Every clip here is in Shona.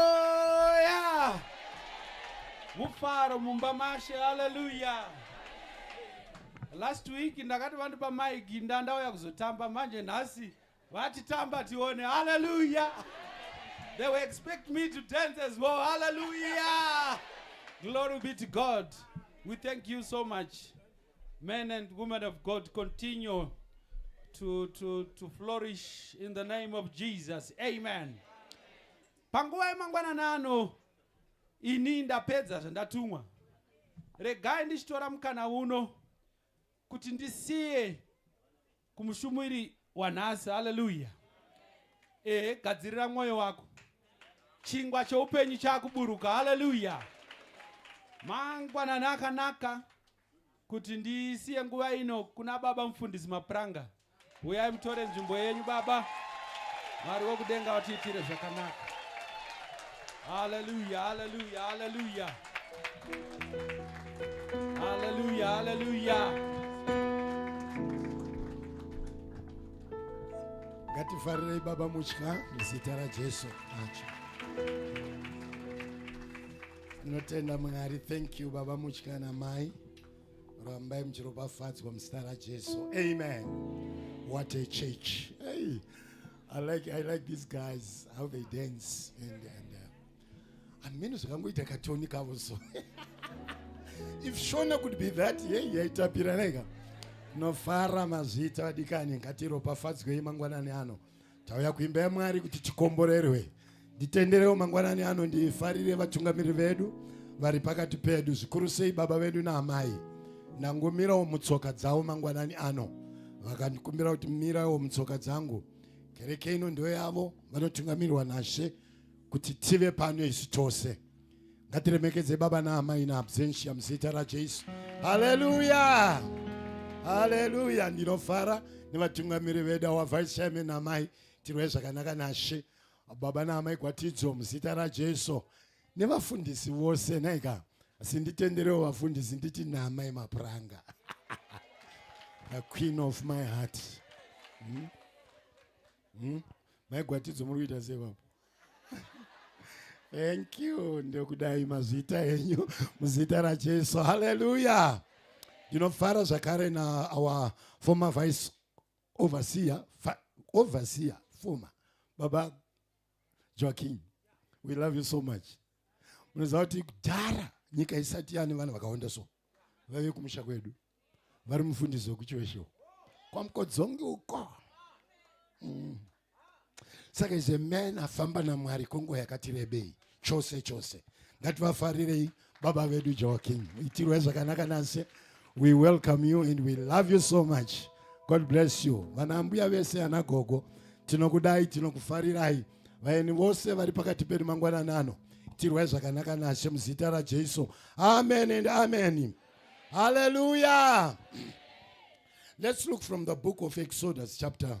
haleluya mufaro mumba mashe haleluya last week ndakati vandipa maigi ndandauya kuzotamba manje nhasi vati tamba tione haleluya they will expect me to dance as well haleluya glory be to god we thank you so much Men and women of God continue to, to, to flourish in the name of Jesus. Amen. Panguva yemangwanana ano ini ndapedza zvandatumwa. Regai ndichitora mukana uno kuti ndisiye kumushumiri wanhasi haleluya ehe gadzirira mwoyo wako chingwa choupenyu chakuburuka haleluya mangwanani akanaka kuti ndisiye nguva ino kuna baba mufundisi mapuranga huyai mutore nzvimbo yenyu baba mwari wokudenga vatiitire zvakanaka Hallelujah, hallelujah, hallelujah. Hallelujah, hallelujah. ngatifarirei baba mutya muzita rajesu tinotenda mwari thank you baba mutya namai rambai muchiropafadzwa muzita rajesu amen what a church hey. I like, I like these guys, how they dance. And, and, uh, and many zvakangoita katoni kavo so. If Shona could be that, yeah, yeah, itapira nega. Nofara mazvita vadikani ngatiropafadzwei mangwanani ano. Tauya kuimba yaMwari kuti tikomborerwe. Nditenderewo mangwanani ano ndifarire vatungamiri vedu vari pakati pedu zvikuru sei baba vedu naamai ndangomirawo mutsoka dzavo mangwanani ano vakandikumbira kuti mirawo mutsoka dzangu kereke ino ndiyo yavo vanotungamirwa nashe kuti tive pano isu tose ngatiremekedze baba naamai naabsentia muzita rajesu haleluya haleluya ndinofara nevatungamiri vedu awa vice chairman amai tirwe zvakanaka nashe baba naamai gwatidzo muzita rajesu nevafundisi vose naika asi nditenderewo vafundisi nditi naamai mapuranga the queen of my heart hmm? Hmm? maigwatidzo muri kuita sei papo thank you ndokudai mazita enyu muzita rajesu haleluya ndinofara zvakare na our former vice overseer fa, overseer former baba joaquin we love you so much munoziva kuti kudhara nyika isati yane vanhu vakawanda so vave kumusha kwedu vari mufundisi wekuchiweshewo kwamkodzongi uko mm. saka is a man afamba namwari kwenguva yakati rebei chose chose ngativafarirei baba vedu joakim itirwe zvakanaka nase we welcome you and we love you so much god bless you vana mbuya vese ana gogo tinokudai tinokufarirai vaeni vose vari pakati pedu mangwanani ano tirwai zvakanaka nashe muzita rajesu amen and amen haleluya let's look from the book of exodus chapter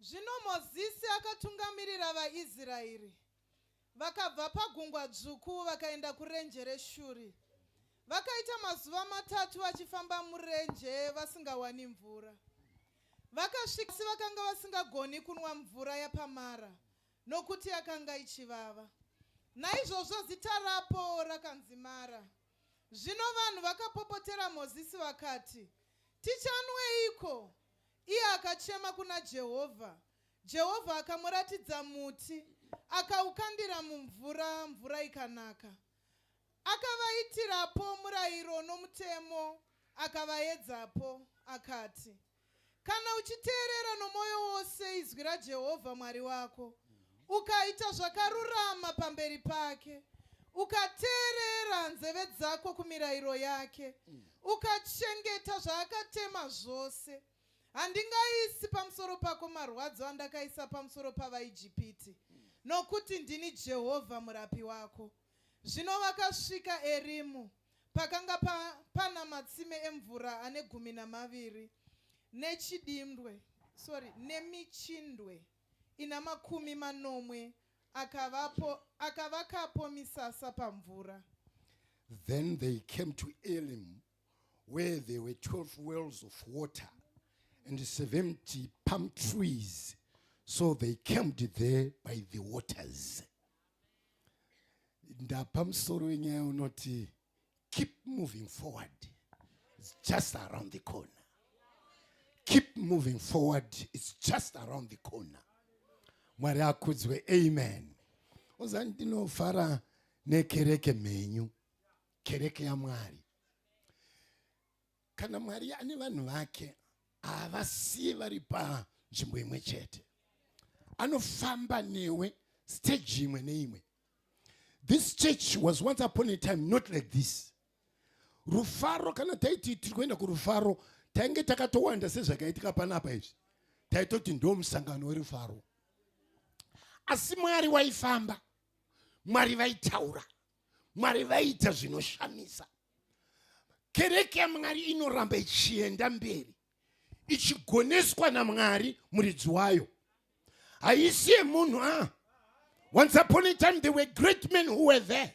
zvino mozisi akatungamirira vaisraeri vakabva pagungwa dzvuku vakaenda kurenje reshuri vakaita mazuva matatu vachifamba murenje vasingawani mvura vakasvika asi vakanga vasingagoni kunwa mvura yapamara nokuti yakanga ichivava naizvozvo zita rapo rakanzi mara Zvino vanhu vakapopotera Mozisi vakati, Tichanweiko? Iye akachema kuna Jehovha. Jehovha akamuratidza muti, akaukandira mumvura, mvura ikanaka. Akavaitirapo murayiro nomutemo, akavaedzapo, akati, Kana uchiteerera nomwoyo wose izwi raJehovha Mwari wako, ukaita zvakarurama pamberi pake, ukateerera nzeve dzako kumirayiro yake, ukachengeta zvaakatema zvose, handingaisi pamusoro pako marwadzo andakaisa pamusoro pavaIjipiti, nokuti ndini Jehovha murapi wako. Zvino vakasvika Erimu, pakanga pa, pana matsime emvura ane gumi namaviri nechidimdwe sorry nemichindwe ina makumi manomwe akavapo akavakapo misasa pamvura Then they came to Elim, where there were 12 wells of water and 70 palm trees. So they camped there by the waters. ndapa musoro wenyaya unoti keep moving forward its just around the corner keep moving forward its just around the corner mwari akudzwe amen ozani ndinofara nekereke mhenyu kereke yamwari kana mwari ane vanhu vake havasiye vari panzvimbo imwe chete anofamba newe stage imwe neimwe this church was once upon a time not like this rufaro kana taiti tiri kuenda kurufaro tainge takatowanda sezvakaitika panapa izvi taitoti ndo musangano werufaro asi mwari waifamba mwari vaitaura mwari vaiita zvinoshamisa kereke yamwari inoramba ichienda mberi ichigoneswa namwari muridzi wayo haisi yemunhu a ah. once upon a time there were great men who were there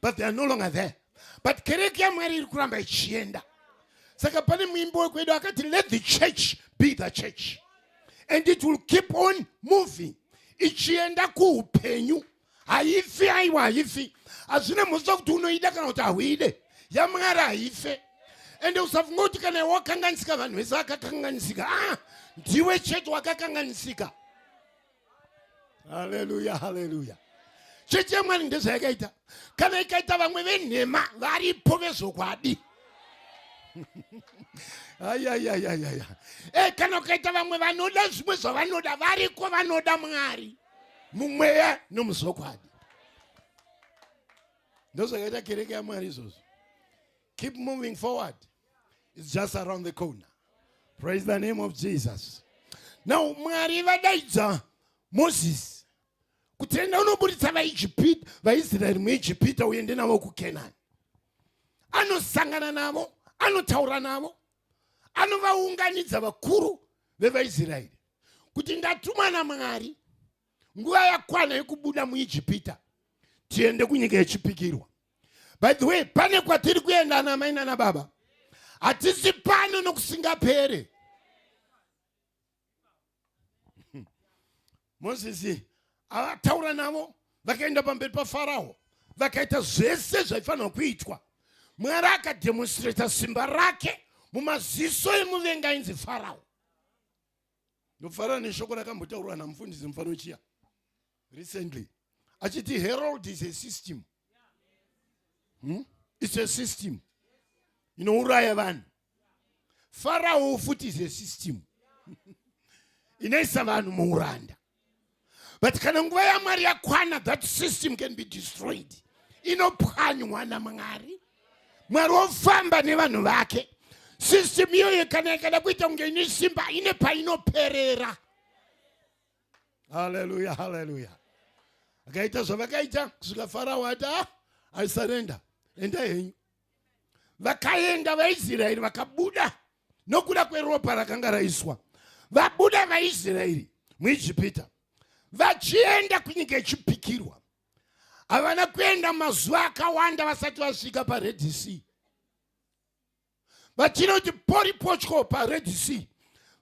but they are no longer there but kereke yamwari iri kuramba ichienda saka pane muimbi wekwedu akati let the church be the church and it will keep on moving ichienda kuupenyu haifi aiwa haifi hazvina mhosva kuti unoida kana kuti hauide yamwari haife ende usafunga kuti kana wakanganisika vanhu vese vakakanganisika ah, ndiwe chete wakakanganisika haleluya haleluya chechi yamwari ndezvayakaita kana ikaita vamwe venhema varipo vezvokwadi ayayayayaya e eh, kana ukaita vamwe vanoda zvimwe zvavanoda variko vanoda mwari mumweya nomuzvokwadi ndozvakaita kereke yamwari izvozvo keep moving forward its just around the corner praise the name of jesus now mwari vadaidza moses kuti enda unoburitsa vaijipita vaisraeri muijipita uende navo kukenani anosangana navo anotaura navo anovaunganidza vakuru vevaisraeri kuti ndatumwa namwari nguva yakwana yekubuda muijipita tiende kunyika yechipikirwa by the way pane kwatiri kuenda ana mai nana baba hatisi pano nokusingapere hmm. mozisi avataura navo vakaenda pamberi pafarao vakaita zvese zvaifanirwa kuitwa mwari akademonstrata simba rake mumaziso emuvengi ainzi farao ndofarana neshoko rakambotaurwa namufundisi mufaro chiya recently achiti herald is a system hmm? its a system inouraya vanhu farawo futi is a system inoisa vanhu muuranda but kana nguva yamwari yakwana that system can be destroyed inopwanywa namwari mwari wofamba nevanhu vake system iyoyo kana ikada kuita kunge ine simba ine painoperera haleluya haleluya akaita zvavakaita kusvika farao ati a ah, i surrender endai henyu vakaenda vaisraeri vakabuda nokuda kweropa rakanga raiswa vabuda vaisraeri muijipita vachienda kunyika yechipikirwa havana kuenda mazuva akawanda vasati vasvika pared sea vachinoti pori potyo pared sea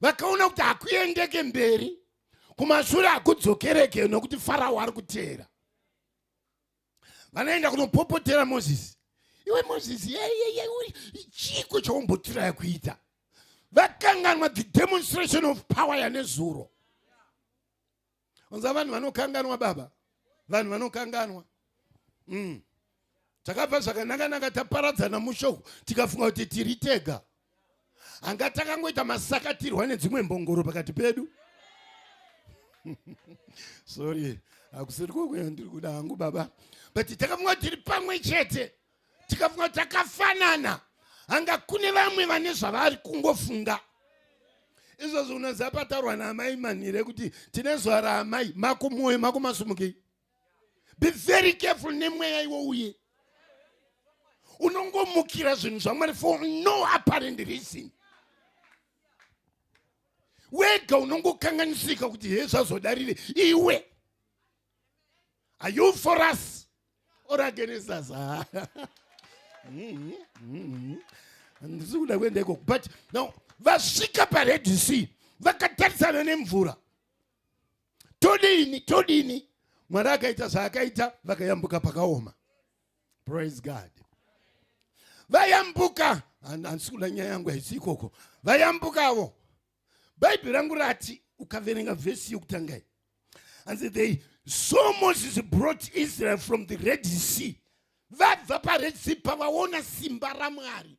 vakaona kuti hakuendeke mberi kumashure hakudzokereke nokuti farao ari kuteera vanoenda kunopopotera mozisi iwe mozisi chiiko chaumbotiraya kuita vakanganwa the demonstration of power yanezuro onza vanhu vanokanganwa baba vanhu vanokanganwa mm. takabva zvakanaka naka taparadzana mushoku tikafunga kuti tiri tega anga takangoita masakatirwa nedzimwe mbongoro pakati pedu sorry hakusiri kokuya ndiri kuda hangu baba but takafunga tiri pamwe chete tikafunga takafanana anga kune vamwe vane zvavari kungofunga izvozvo unoziva pataurwa naamai manhire kuti tine zuva raamai mako mwoyo mako masumukei be very careful nemweya iwo uye unongomukira zvinhu zvamwari for no apparent reason wega unongokanganisika kuti he zvazodarire iwe are you for us or against us handisi kuda kuenda ikoko but now vasvika pared sea vakatarisana nemvura todini todini mwari akaita zvaakaita vakayambuka pakaoma praise god vayambuka handisi kuda nyaya yangu haisi ikoko vayambukavo bhaibheri rangu rati ukaverenga vhesi yokutangai hanzi they so moses brought israel from the red sea vabva pared sea pavaona simba ramwari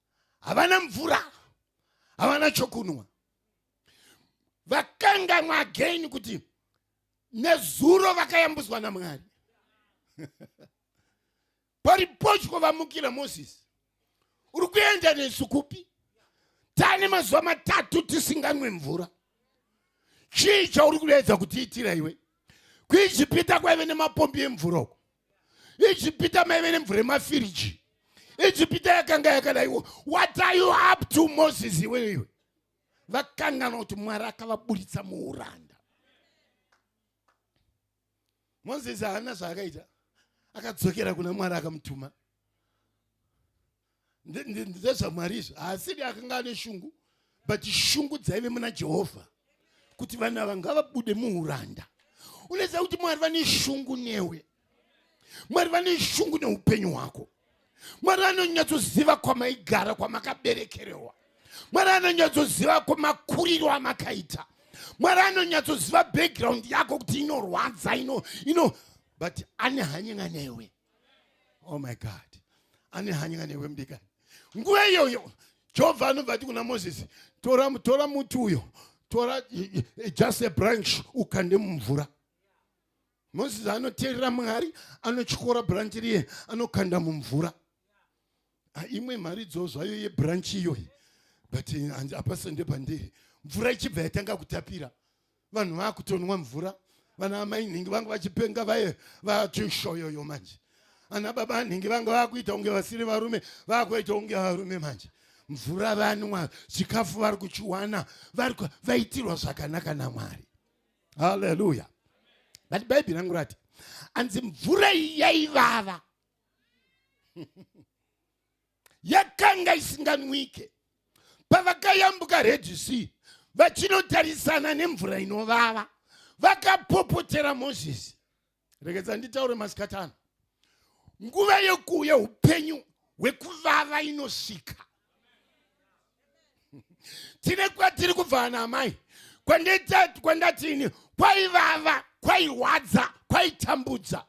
havana mvura havana chokunwa vakanganwa again kuti nezuro vakayambudzwa namwari pari potyo vamukira moses uri kuenda nesu kupi tane mazuva matatu tisinganwe mvura chii chauri kuedza kutiitira iwe kuijipita kwaive nemapombi emvura uko ijipita maive nemvura yemafiriji ijipita yakanga yakadaiwo what are you up to moses iwewe vakangana kuti mwari akavaburitsa muuranda moses haana zvaakaita akadzokera kuna mwari akamutuma ndezvamwari izvi haasiri akanga ane shungu but shungu dzaive muna jehovha kuti vanhu ava ngavabude muuranda unoziva kuti mwari vane shungu newe mwari vane shungu neupenyu hwako mwari anonyatsoziva kwamaigara kwamakaberekerewa mwari anonyatsoziva kwamakuriro amakaita mwari anonyatsoziva background yako kuti inorwadza ino ino but ane hanyinga newe oh my god ane hanyika newe mudikani nguva iyoyo jehovha anobva ti kuna mozisi tora, tora muti uyo tora just a branch ukande mumvura mozisi anoteerera mwari anotyora branch riye anokanda mumvura Ah, imwe mharidzo zvayo yebranch iyoyi but eh, hapasa ndepandiri mvura ichibva yatanga kutapira vanhu vakutonwa mvura vana amai nhingi vanga vachipenga vaye vatishoyoyo manje ana baba anhingi vanga vakuita kunge vasiri varume vakuita kunge varume manje mvura vanwa chikafu vari kuchiwana vaitirwa zvakanaka namwari haleluya but bhaibheri rangu rati anzi mvura iyi yaivava yakanga isinganwike pavakayambuka redc vachinotarisana nemvura inovava vakapopotera mozisi rekedza nditaure masikatano nguva yokuuya upenyu hwekuvava inosvika tine kwatiri kubva ana amai kwandatini kwaivava kwairwadza kwaitambudza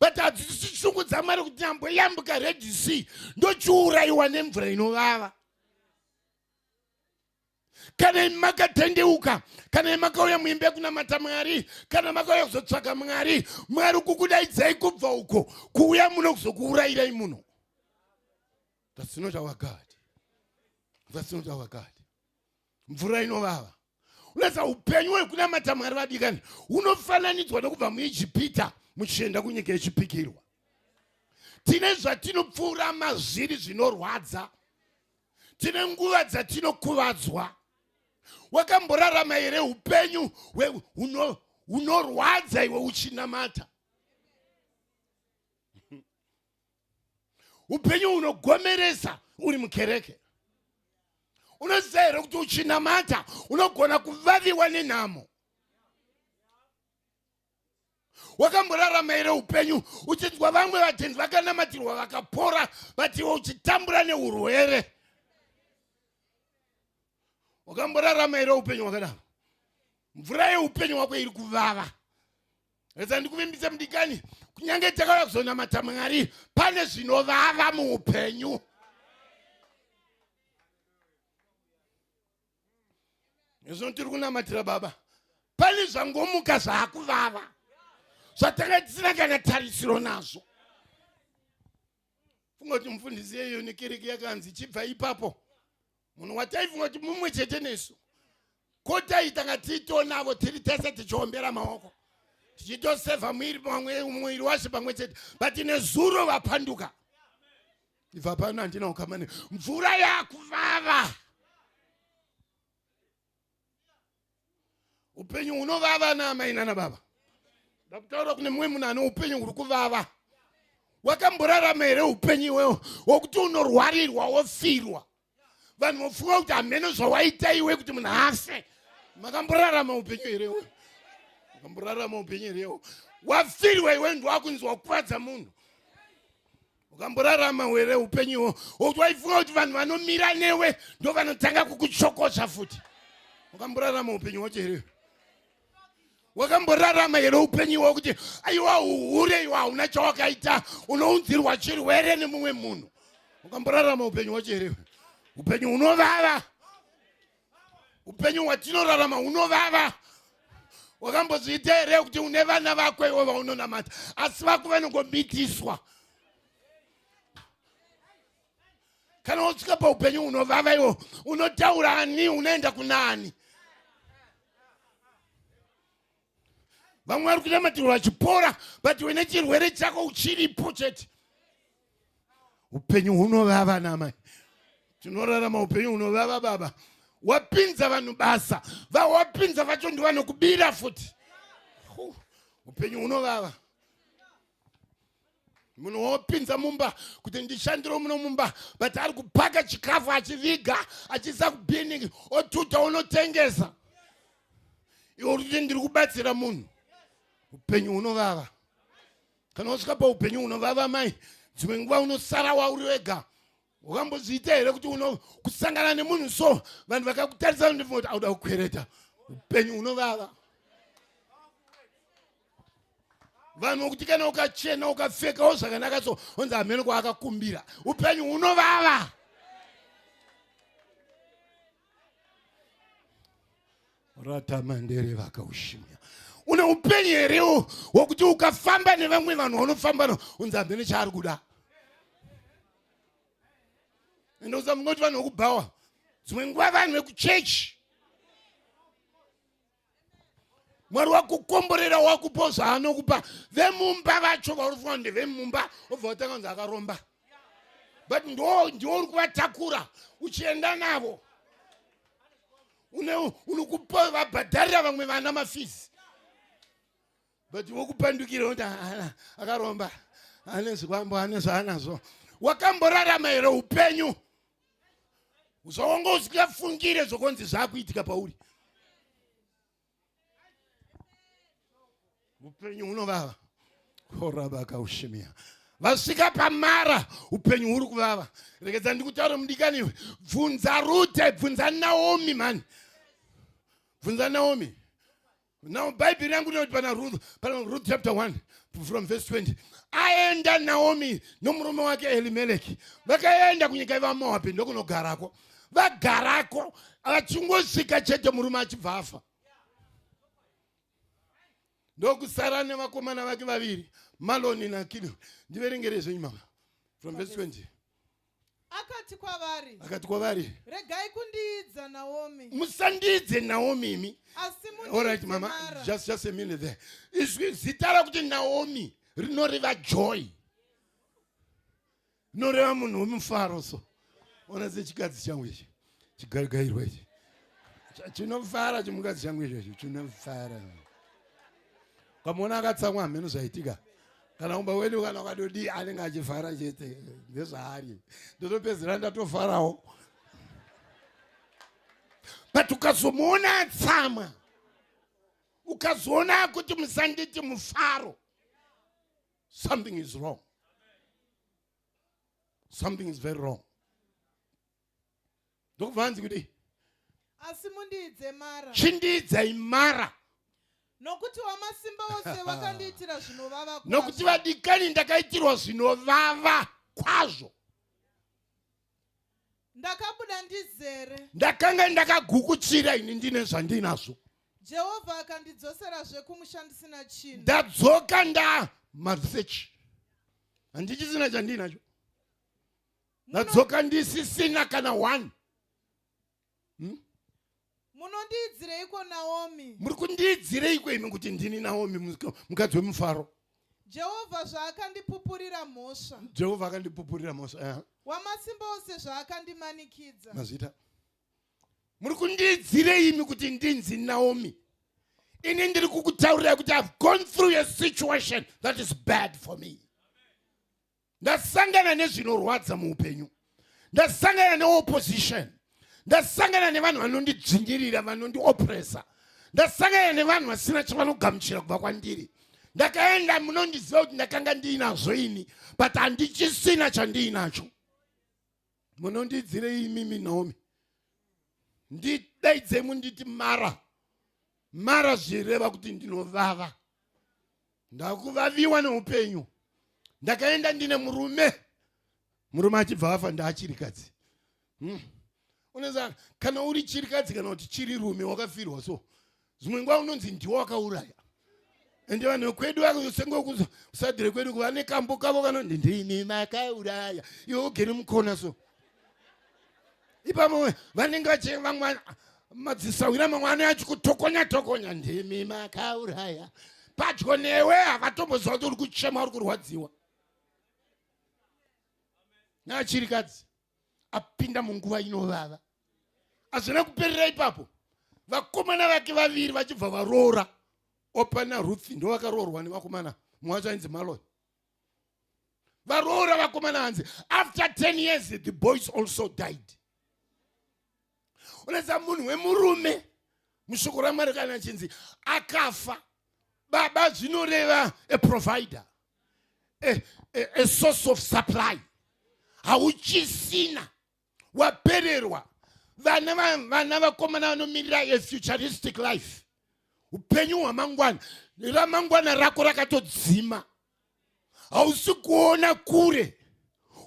but hadzisi shungu dzamwari kuti nyambo yambuka red sea ndochiurayiwa nemvura inovava kana imi makatendeuka kana imi makauya muimba yekunamata mwari kana makauya kuzotsvaga mwari mwari kukudaidzai kubva uko kuuya muno kuzokuurayirai muno that's not our god that's not our god mvura inovava unasa upenyu hwekunamata mwari vadikani hunofananidzwa nokubva muijipita muchienda kunyika yechipikirwa tine zvatinopfuura mazviri zvinorwadza tine nguva dzatinokuvadzwa wakamborarama here upenyu hunorwadza iwe uchinamata upenyu unogomeresa uri mukereke unoziva here kuti uchinamata unogona kuvaviwa nenhamo wakamborarama here upenyu uchinzwa vamwe vatendi vakanamatirwa vakapora vatiwo uchitambura neurwere wakamborarama here upenyu hwakadaro mvura yeupenyu hwako iri kuvava Edza ndikuvimbise mudikani, kunyange takauya kuzonamata Mwari, pane zvinovava muupenyu. Izvo tiri kunamatira Baba, pane zvangomuka zvaakuvava zvatanga tisina kana tarisiro nazvo. funga kuti mufundisi yeyo nekereke yakanzi chibva ipapo munhu wataifunga kuti mumwe chete nesu ko taitanga tiitonavo tiri tese tichiombera maoko tichitosevha muiri pamwe muviri washe pamwe chete but nezuro vapanduka ibva pano handina ukamane mvura yakuvava upenyu hunovava naamai nana baba ndakutaura kune mumwe munhu ane upenyu huri kuvava wakamborarama here upenyu iwewo wokuti unorwarirwa wofirwa vanhu vofunga kuti hameno zvawaita iwe kuti munhu afe makamborarama upenyu here iwe makamborarama upenyu here iwe wafirwa iwe ndiwakunzi wakuvadza munhu ukamborarama here upenyuwo waifunga kuti vanhu vanomira newe ndo vanotanga kukuchokosa futi ukamborarama upenyu hwacho here wakamborarama here upenyu hwekuti aiwa uhure iwa hauna chawakaita unounzirwa chirwere nemumwe munhu ukamborarama upenyu hwacho here upenyu hunovava upenyu hwatinorarama hunovava wakambozviita here kuti une vana vako ivo vaunonamata asi vako vanongomitiswa kana wosvika paupenyu unovava iwo unotaura ani unoenda kuna ani vamwe vari kunamatirwa vachipora but wene chirwere chako uchiripo chete upenyu hunovava namai tinorarama upenyu hunovava baba wapinza vanhu basa vawapinza vacho ndivanokubira futi upenyu hunovava munhu wopinza mumba kuti ndishandiro muno mumba but ari kupaka chikafu achiviga achiisa kubinning otuta unotengesa iwo kuti ndiri kubatsira munhu upenyu hunovava kana wasvika paupenyu hunovava mai dzimwe nguva unosara wauri wega wakambozviita here kuti uno kusangana nemunhu so vanhu vakakutarisa vandifunga kuti auda kukwereta upenyu unovava vanhu vokuti kana ukachena ukapfekawo zvakanaka so onzi hamene kwaakakumbira upenyu unovava ratamandere vakaushimya une upenyu here wokuti ukafamba nevamwe vanhu vaunofamba no unzi handine chaari kuda ende usamungoti vanhu vekubhawa dzimwe nguva vanhu vekuchechi mwari wakukomborera wakupo zvaanokupa vemumba vacho vauri funga kuti vemumba obva watanga kunzi akaromba but ndo ndiwo uri kuvatakura uchienda navo une kupo vabhadharira vamwe vana mafizi but wokupandukira kuti haana akaromba ane zvikwambo ane zvaanazvo wakamborarama here upenyu zvawanga usingafungire zvokunzi zvakuitika pauri upenyu hunovava koraba kaushimia vasvika pamara upenyu huri kuvava rekedza ndikutaura mudikani iwe bvunza rute bvunza naomi mani bvunza naomi Now Bible yangu inoti pana Ruth, pana Ruth chapter 1 from verse 20. Aenda Naomi nomurume wake Elimeleki. Vakaenda kunyika yevaMoabhi ndokunogarako. Vagarako vachingosvika chete murume achibva afa. Ndokusara nevakomana vake vaviri, Maloni naKilioni. Ndiverengere zvenyu mama from verse 20. akati kwavari akati kwavari regai kundiidza naomi musandiidze naomi imi allright mama just, just a minute there izwi zita rakuti naomi rinoreva joy rinoreva munhu wemufaro so ona sechikadzi changu ichi chigaigairwa ichi chinofara chimukadzi changu izvezvi chinofara ukamuona akatsamwa hameno zvaitika kana umba wedu kana ukadodii anenge achifara chete ndezvaari ndotopedzera ndatofarawo but ukazomuona atsamwa ukazoona kuti musanditi mufaro something is wrong something is very wrong ndokubva anzi kudii asi mundiidze mara chindiidzai mara nokuti wamasimba ose vakandiitira zvinovava nokuti vadikani ndakaitirwa zvinovava kwazvo ndakabuda ndizere ndakanga ndakagukuchira ini ndine zvandiinazvo jehovha akandidzosera zvekumusha ndisina chinhu ndadzoka nda maresearch handichisina chandiinacho nadzoka ndisisina kana one hmm? munondiidzireiko naomi muri kundiidzireiko imi kuti ndini naomi mukadzi wemufaro jehovha zvaakandipupurira mhosva jehovha akandipupurira mhosva uh -huh. wamasimba ose zvaakandimanikidza mazvita muri kundiidzirei imi kuti ndinzi naomi ini ndiri kukutaurirai kuti ihave gone through a situation that is bad for me ndasangana nezvinorwadza muupenyu ndasangana neopposition ndasangana nevanhu vanondidzvinyirira vanondiopresa ndasangana nevanhu vasina chavanogamuchira kubva kwandiri ndakaenda munondiziva kuti ndakanga ndiinazvo ini but handichisina chandiinacho munondidzirei imimi naomi ndidaidzei munditi mara mara zvireva kuti ndinovava ndakuvaviwa neupenyu ndakaenda ndine murume murume achibva afa ndaachirikadzi hmm. unoziva kana uri chirikadzi kana kuti chiri rume wakafirwa so zvimwe nguva unonzi ndiwo wakauraya ende vanhu vekwedu vakusengokuza usadhire kwedu kuva nekambo kavo kanonzi ndini makauraya iwe ugere mukona so ipapo vanenge vachi vamwe madzisahwira mamwe anenge achikutokonya tokonya ndimi makauraya padyo newe havatomboziva kuti uri kuchema uri kurwadziwa naachirikadzi apinda munguva inovava hazvina kuperera ipapo vakomana vake vaviri vachibva varoora opana ruth ndovakaroorwa nevakomana mwacho ainzi maloy varoora vakomana hanzi after 10 years the boys also died uneza munhu wemurume mushoko ramwari kana achinzi akafa baba zvinoreva a provider a, a, a source of supply hauchisina wapererwa vana vana vakomana vanomirira a futuristic life upenyu hwamangwana ramangwana rako rakatodzima hausi kuona kure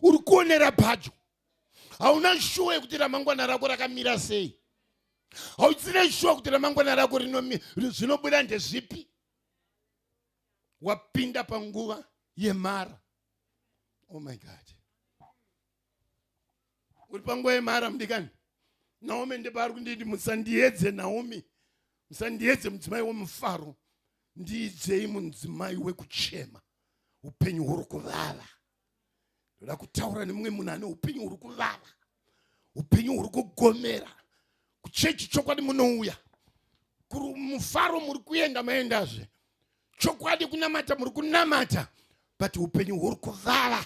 uri kuonera padyo hauna shuwa yekuti ramangwana rako rakamira sei hautsine shuwa kuti ramangwana rako zvinobuda ndezvipi wapinda panguva yemara oh my god uri panguva yemhara mudikani naomi ndepaari kunditi musandiedze naomi musandiedze mudzimai womufaro ndiidzei mudzimai wekuchema upenyu huri kuvava ndoda kutaura nemumwe munhu ane upenyu huri kuvava upenyu huri kugomera kuchechi chokwadi munouya mufaro muri kuenda maendazve chokwadi kunamata muri kunamata but upenyu huri kuvava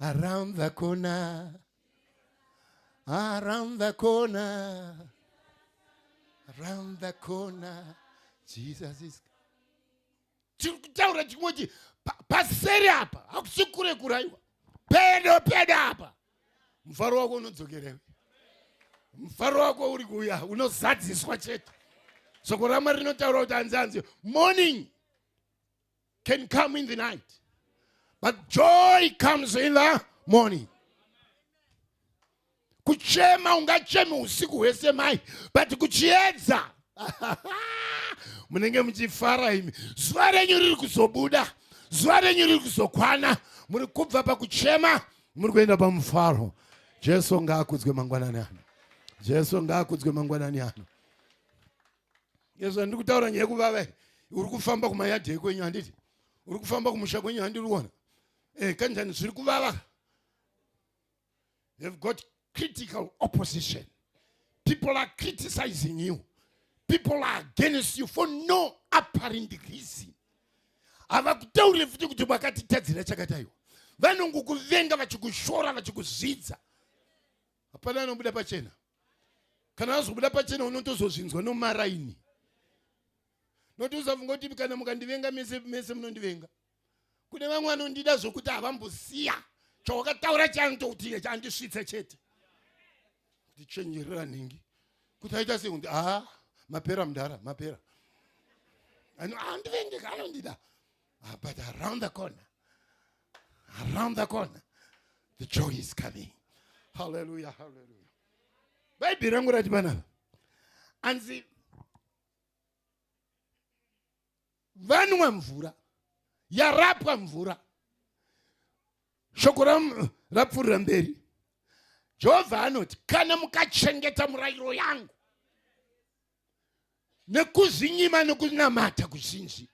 around the corner around the corner around the corner jesus is tiri kutaura chimwechi paseri apa hakusi kure kuraiwa pedo pedo apa mufaro wako unodzokerewe mufaro wako uri kuuya unozadziswa chete soko ramwari rinotaura kuti anzi anzi morning can come in the night, but joy comes in the morning. Kuchema ungacheme usiku hwese mai, but kuchiedza munenge muchifara imi. Zuva renyu riri kuzobuda, zuva renyu riri kuzokwana, muri kubva pakuchema muri kuenda pamufaro. Jesu ngaakudzwe mangwanani ano. Jesu ngaakudzwe mangwanani ano. Yesu andiri kutaura nyaya yekuvava iyi. Uri kufamba kumayadhi ekwenyu handiti? Uri kufamba kumusha kwenyu handiri kuona. Eh, kanjani zviri kuvava. They've got critical opposition. People are criticizing you. People are against you for no apparent reason. Havakutaure futi kuti makatitadzira chakataiwa. Vanongokuvenga vachikushora vachikuzvidza. hapana anobuda pachena kana azobuda pachena unotozozvinzwa nomaraini nokuti usafunga kuti kana mukandivenga mese mese munondivenga kune vamwe vanondida zvokuti havambosiya chawakataura chanotouti chandisvitsa chete kuti chenjerera nhingi kuti aita sei kuti aa mapera mudhara mapera andivengeka anondida Ah, but around the corner, around the corner, the joy is coming. Hallelujah, hallelujah. Baby, rangu rati panapa anzi vanwa mvura yarapwa mvura shoko rapfuurira mberi jehovha anoti kana mukachengeta murayiro yangu nekuzvinyima nekunamata kuzhinji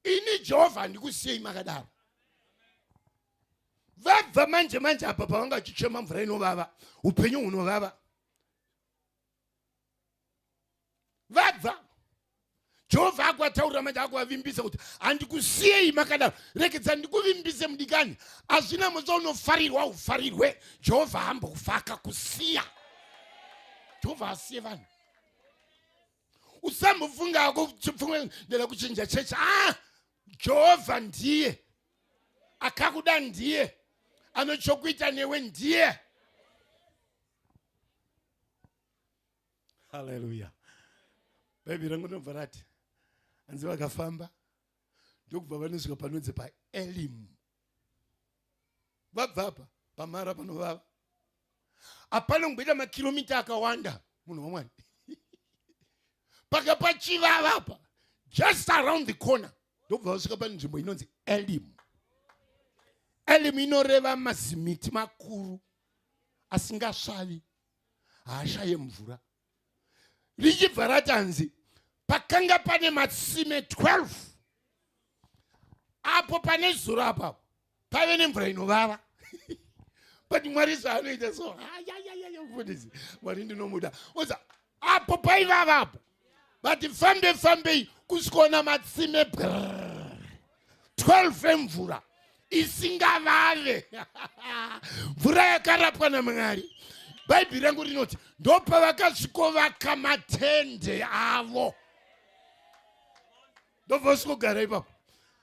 ini jehovha handikusiyei makadaro vabva manje manje apa pavanga vachichema mvura inovava upenyu hunovava vabva jehovha akuataurira manje akuvavimbisa kuti handikusiyei makadaro rekedza ndikuvimbise mudikani hazvina mutsa unofarirwa ufarirwe jehovha hambokufa akakusiya jehovha asiye vanhu usambofunga akupfungwe ndela kuchinja chechi a ah, jehovha ndiye akakuda ndiye anochokuita newe ndiye haleluya bhaibhi rangu ndinobva rati hanzi vakafamba ndokubva vanosvika panonzi paelimu vabva apa pamara panovava hapana kumboita makiromita akawanda munhu wamwari paka pachivava apa just around the corner ndokubva vasvika pane nzvimbo inonzi elimu elimu inoreva mazimiti makuru asingasvavi haashaye mvura richibva ratanzi pakanga pane matsime 12 apo pane zuro apa paive nemvura inovava but mwari zvaanoita so mfundisi mwari ndinomuda oza apo paivava apo vati fambe fambei kusvikaona matsime 12 emvura isingavave mvura yakarapwa namwari bhaibheri rangu rinoti ndopavakasvikovaka matende avo ndobva usingogara ipapo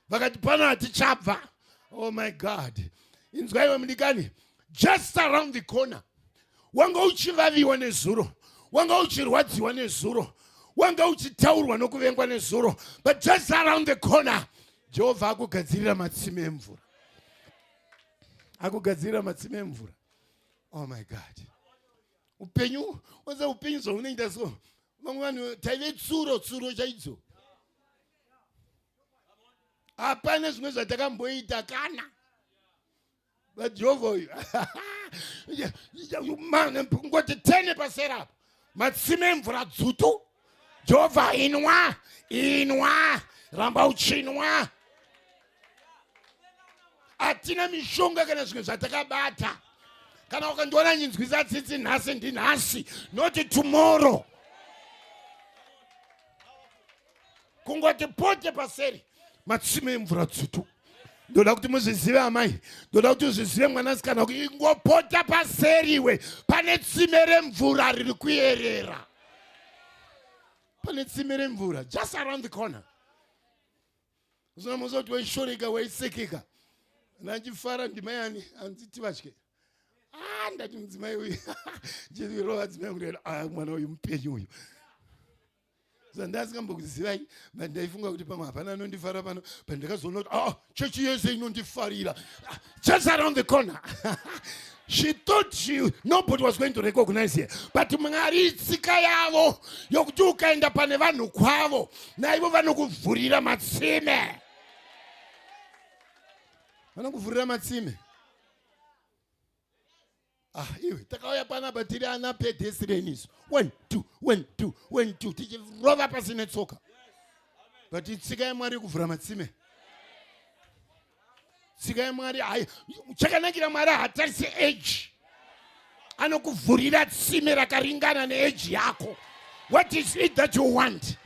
vakati pano hatichabva oh my god inzwa iwe mudikani just around the corner wanga uchivaviwa nezuro wanga uchirwadziwa nezuro wanga uchitaurwa nokuvengwa nezuro but just around the corner jehovha akugadzirira matsime emvura akugadzirira matsime emvura oh my god upenyu oza upenyu zvaunoita so vamwe vanhu taive tsuro tsuro chaidzo hapana zvimwe zvatakamboita kana vajehovha uyu ngoti tene pasera apo matsime emvura dzutu jehovha inwa inwa ramba uchinwa hatina mishonga kana zvimwe zvatakabata kana ukandiona nyinzwisa tsitsi nhasi ndinhasi not tomorrow kungoti pote paseri matsime emvura dzutu ndoda kuti muzvizive amai ndoda kuti uzvizive mwanasikana kuti ingopota paseriwe pane tsime remvura riri kuyerera pane tsime remvura just around the corner zona moziva kuti waishoreka waisekeka ndachifara ndimai ani hanzi tivatye ah, ndati mudzimai uyu chirova dzimai kudera ah, mwana uyu mupenyu uyu zandasingambokuzivai but ndaifunga kuti pamwe hapana anondifara pano but ndakazoona kuti ah, chechi yese inondifarira just around the corner she thought she, nobody was going to recognize her but mwari itsika yavo yokuti ukaenda pane vanhu kwavo naivo vanokuvhurira matsime vanokuvhurira matsime ah iwe takauya panapa tiri ana pedesireniso one two one two one two tichirova pasi netsoka but itsika yamwari yokuvhura matsime tsika yamwari hai chakanakira mwari hatarisi age anokuvhurira tsime rakaringana neage yako what is it that you want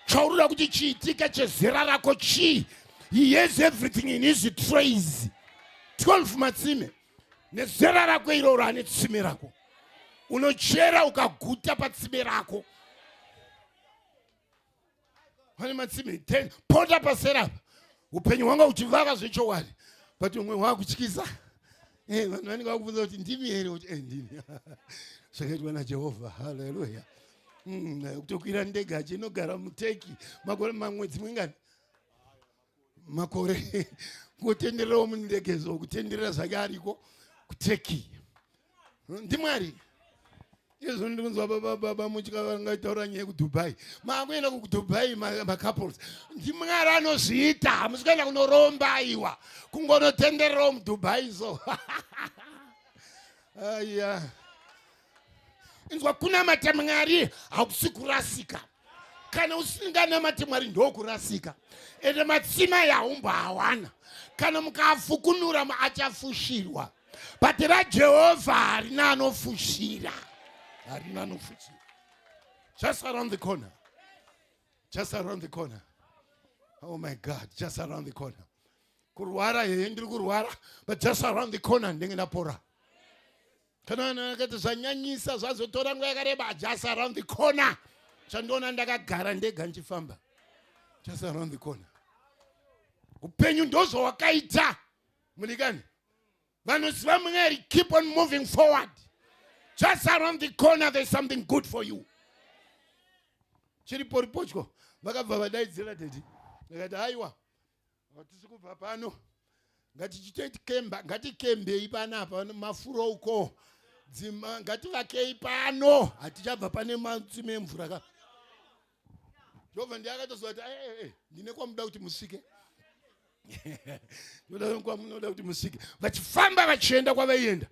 chauruda kuti chiitika chezera rako chii he has everything in his trays 12 matsime nezera rako iroro ane tsime rako unochera ukaguta patsime rako vane matsime 10 pota pasera apa upenyu hwanga uchivava zvechokwadi but umwe hwakutyisa eh, vanhu vanenge vakubvunza kuti ndimi here kuti eh, ndimi zvakaitwa najehovha haleluya mm, kutokwira ndege achi inogara muteki makore mamwedzi mwingani makore kutendererawo mundekezo kutenderera zvake ariko kuturkey ndimwari izvo ndinonzwa baba baba mutya vangaitaura nyaya yekudubai maakuenda kudubai macouples ndimwari anozviita hamusi kuenda kunoromba aiwa kungonotendererawo mudubai so aya inzwa kunamata mwari hakusi kurasika kana usinganamati mwari ndokurasika ende matsima yaumba hawana kana mukafukunura achafushirwa but rajehovha harina anofushira harina anofushira just around the corner just around the corner oh my god just around the corner kurwara heye ndiri kurwara but just around the corner ndenge ndapora kana vanhu vakati zvanyanyisa zvazotora nguva yakareba ajust around the corner chandiona ndakagara ndega ndichifamba just around the corner upenyu ndozvawakaita mulikani vanoziva mwari keep on moving forward just around the corner there's something good for you chiripo ripotyo vakabva vadaidzira teti ndikati haiwa Hatisi kubva pano. Ngatichitei kemba, ngatikembei panapa mafuro uko. Dzima ngativakei pano. Hatichabva pane matsime emvura ka. Jehovha ndiye akatoziva kuti eh, eh, eh, ndine kwamuda kuti musvike. Ndoda kwamunoda kuti musvike. Vachifamba vachienda kwavaienda.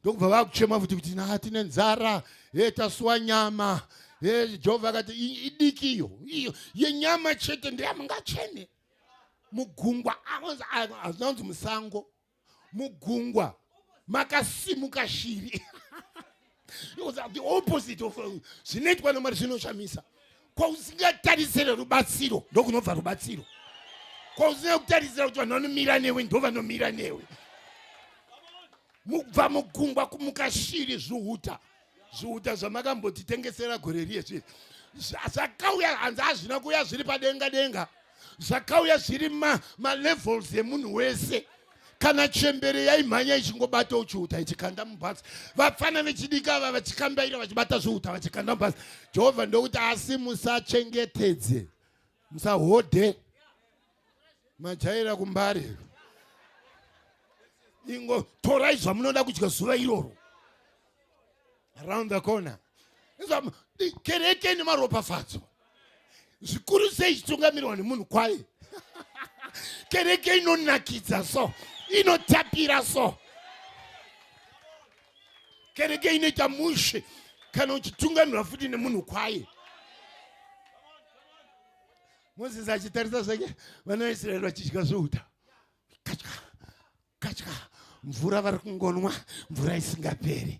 Ndokubva vakuchema futi kuti na tine nzara, hey, tasuwa nyama. Hey, Jehovha akati idiki iyo. Iyo yenyama chete ndiye amungacheme. mugungwa hazvina kunzi musango mugungwa makasimuka shiri the opposite of uh, zvinoitwa nemwari zvinoshamisa kwausingatarisire rubatsiro ndokunobva rubatsiro kwausina kutarisira kuti vanhu vanomira newe ndo vanomira newe mubva mugungwa kumukashiri zvihuta zviuta zvamakambotitengesera gore riye zviye zvakauya hanzi hazvina kuuya zviri padenga denga zvakauya zviri malevels ma emunhu wese kana chembere yaimhanya ichingobata uchiuta ichikanda mubhazi vapfana vechidika ava vachikambaira vachibata zviuta vachikanda mubhazi jehovha ndokuti asi musachengetedze musahodhe majaira kumbare ingo torai zvamunoda kudya zuva iroro around the corner kereke ine maropafadzo zvikuru sei ichitungamirwa nemunhu kwaye kereke inonakidza so inotapira so kereke inoita mushe kana uchitungamirwa futi nemunhu kwaye mozisi achitarisa zvake vana vaisraeri vachidya zviuta katya katya mvura vari kungonwa mvura isingaperi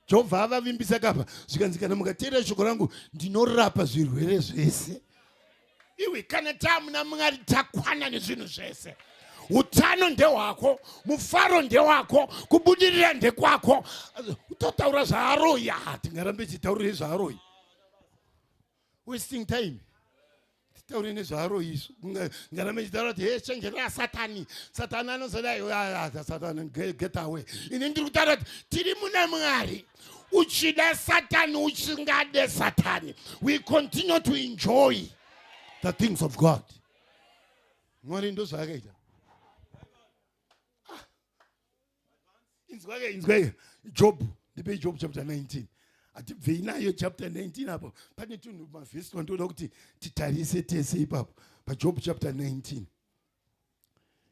jobva avavimbisa kapa zvikanzi kana mukateerera shoko rangu ndinorapa zvirwere zvese iwe kana tamuna mwari takwana nezvinhu zvese utano ndehwako mufaro ndewako kubudirira ndekwako utotaura zvaaroyi ha tingarambe tichitaurire zvaaroyi wasting time taure nezvaro izvo ngaramba ichitaura kuti he chenjero yasatani satani anozodai satani get away ini ndiri kutaura kuti tiri muna mwari uchida satani uchingade satani we continue to enjoy the things of god mwari ndozvaakaita inzwake inzwake job ndipei job chapter 19 hatibvei nayo chapter 19 apo pane tunhu mavhesi twandoda kuti titarise tese ipapo pajob chapter 19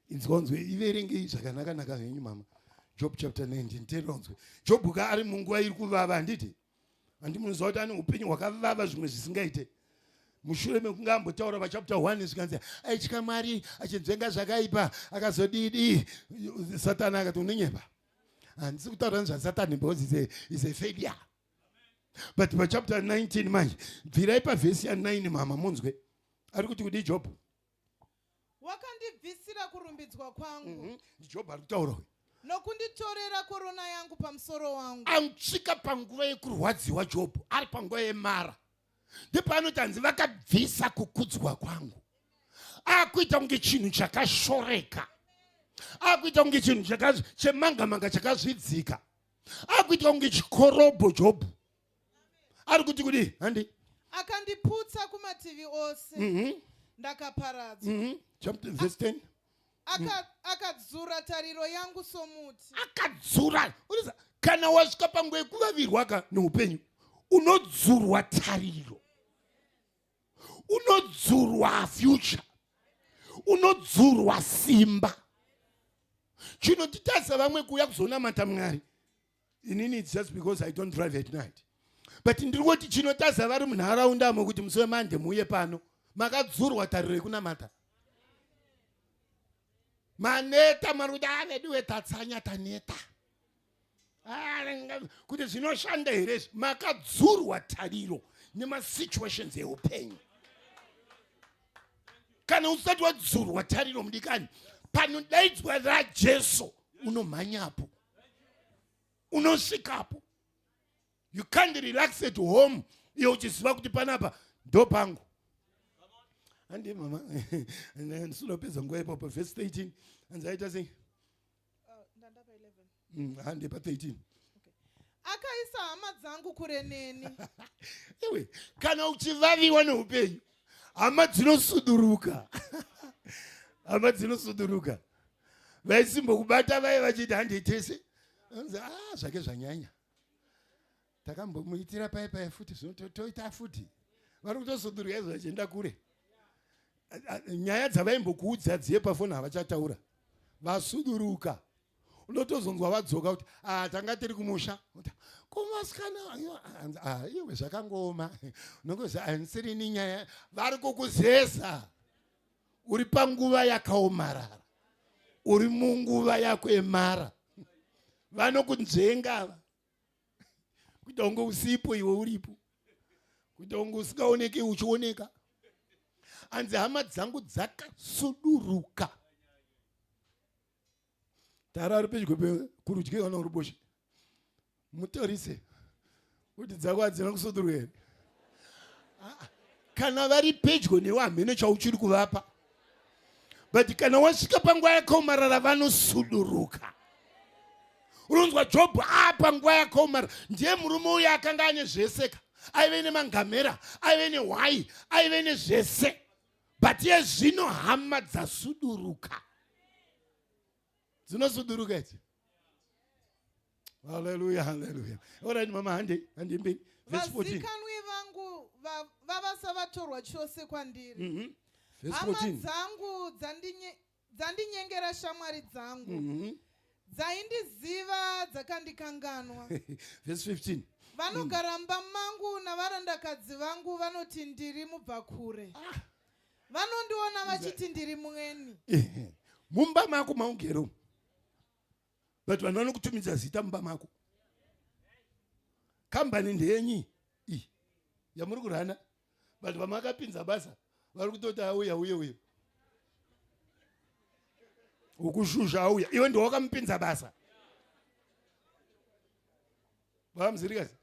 inzwa nzwe iverengei zvakanakanaka henyu mama job chapter 19 teronzwe job ka ari munguva iri kuvava handiti handi munoziva kuti ane upenyu hwakavava zvimwe zvisingaite mushure mekunge ambotaura pachapter 1 zvikanzi aitya mwari achinzvenga zvakaipa akazodidi satani akati unonyepa handisi kutaura nezvasatani because is a, is a failure but pachapter 19 manje bvirai pavhesi ya 9 mama munzwe ari kuti kudii jobho wakandibvisira kurumbidzwa kwangu mm -hmm. ndijob ari kutaura uyu nokunditorera korona yangu pamusoro wangu anosvika panguva yekurwadziwa job ari panguva yemara ndepaanoti hanzi vakabvisa kukudzwa kwangu akuita kunge chinhu chakashoreka akuita kunge chinhu chemanga manga chakazvidzika akuita kunge chikorobho jobhu ari kuti kudii handi akandiputsa kumativi ose mm -hmm. ndakaparadzwa mm -hmm. chapter verse 10 Aka, akadzura tariro yangu somuti akadzura uriza kana wasvika panguva yekuvavirwa ka neupenyu unodzurwa tariro unodzurwa future unodzurwa simba chinotitarisa vamwe kuuya kuzonamata mwari inini it's just because i don't drive at night but ndiri kuti chinotadza vari munharaunda mo kuti musi wemande muuye pano makadzurwa tariro yekunamata maneta mari kuti aveduwe ah, tatsanya taneta ah, kuti zvinoshanda here izvi makadzurwa tariro nemasituations eupenyu kana usati wadzurwa tariro mudikani panodaidzwa rajesu unomhanyapo unosvikapo you can't relax at home iyo uchiziva kuti panapa ndo pangu handi mama ndisinopedza nguva ipapo vhesi 13 hanzi aita sei handi pa 13 akaisa hama dzangu kure neni iwe kana uchivaviwa neupenyu hama dzinosuduruka hama dzinosuduruka vaisimbokubata vaye vachiti handitese anzi a ah, zvake zvanyanya takambomuitira paye paye futi zvino toita futi vari kutosudurwa izvo vachienda kure nyaya dzavaimbokuudza dziye pafoni havachataura vasuduruka unotozonzwa vadzoka kuti ah, tanga tiri kumusha kumasikana ah, iwe zvakangooma nokuzianisirini nyaya vari kukuzeza uri panguva yakaomarara uri munguva yako yemara vanokunzvengava kuita kunge usipo iwe uripo kuita kunge usingaoneke uchioneka hanzi hama dzangu dzakasuduruka tara ari pedyo kurudye kana kuruboshe mutarise kuti dzako hadzina kusudurwa here kana vari pedyo newe hamene chauchiri kuvapa but kana wasvika panguva yakaomarara vanosuduruka unonzwa jobho aa panguva yakaomarara ndiye murume uyo akanga ane zvese ka aive nemangamera aive nehwai aive nezvese but iye zvino hama dzasuduruka dzinosuduruka idzi haleluya haleluya orit mama hande hande mberi vasikanwi vangu vavasavatorwa chose kwandiri mm -hmm. hama dzangu dzandinye dzandinyengera shamwari dzangu mm -hmm. dzaindiziva dzakandikanganwa verse 15 vanogara mm. mba mangu navarandakadzi vangu vanoti ndiri mubvakure ah. vanondiona vachiti ndiri mweni mumba mako maungero but vanhu vanokutumidza zita mumba mako kambani ndenyi i yamuri kurana but vamakapinza basa vari kutoti auya uye uye ukushuzha auya iwe ndiwakamupinza basa vamzirikasi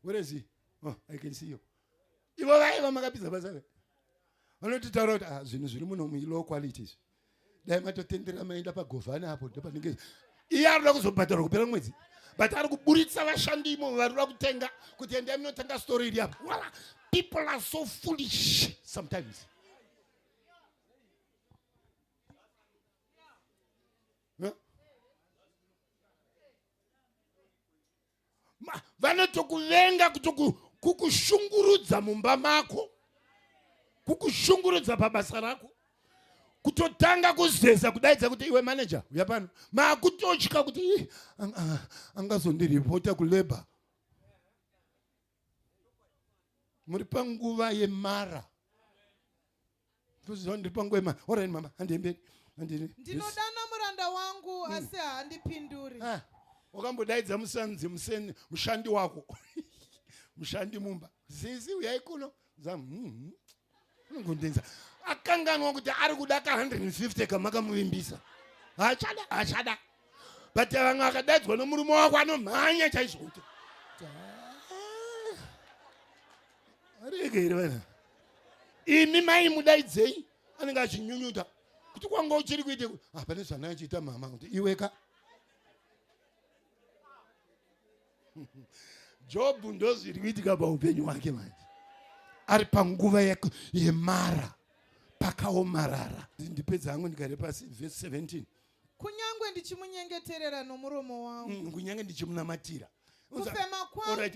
where is he oh, i can see you ivo vaiva makapinza basa vanotitaura kuti ah, zvinhu zviri muno muilow qualities dai matotendera maenda pagovhani apo ndopanenge iye arikuda kuzobhadharwa kupera mwedzi but ari kuburitsa vashandi imo varikuda kutenga kuti endai munotanga story iri apo wala people are so foolish sometimes vanotokuvenga kutokushungurudza mumba mako kukushungurudza pabasa rako kutotanga kuzeza kudaidza kuti iwe manager uya pano makutotya kuti angazondiripota kulabor muri panguva yemara ndoziva ndiri pangwema oraini mama handiemberi handiri ndinodana muranda wangu hmm. asi haandipinduri ah, wakambodaidza musanzi museni mushandi wako mushandi mumba zizi uyai kuno hmm, unongondenza akanganwa kuti ari kuda ka 150 kamakamuvimbisa hachada hachada but vamwe vakadaidzwa nomurume wako anomhanya chaizvo kuti arege here vana imi mai mudaidzei anenge achinyunyuta kuti kwanga uchiri kuite hapane ah, zvana achiita mama kuti iweka jobhu ndozviri kuitika paupenyu hwake manje ari panguva yemara pakaomarara ndipedza hangu ndikare pasi vhesi 17 Kunyangwe ndichimunyengeterera nomuromo wangu. Mm, kunyange ndichimunamatira. Kufema kwangu. Alright,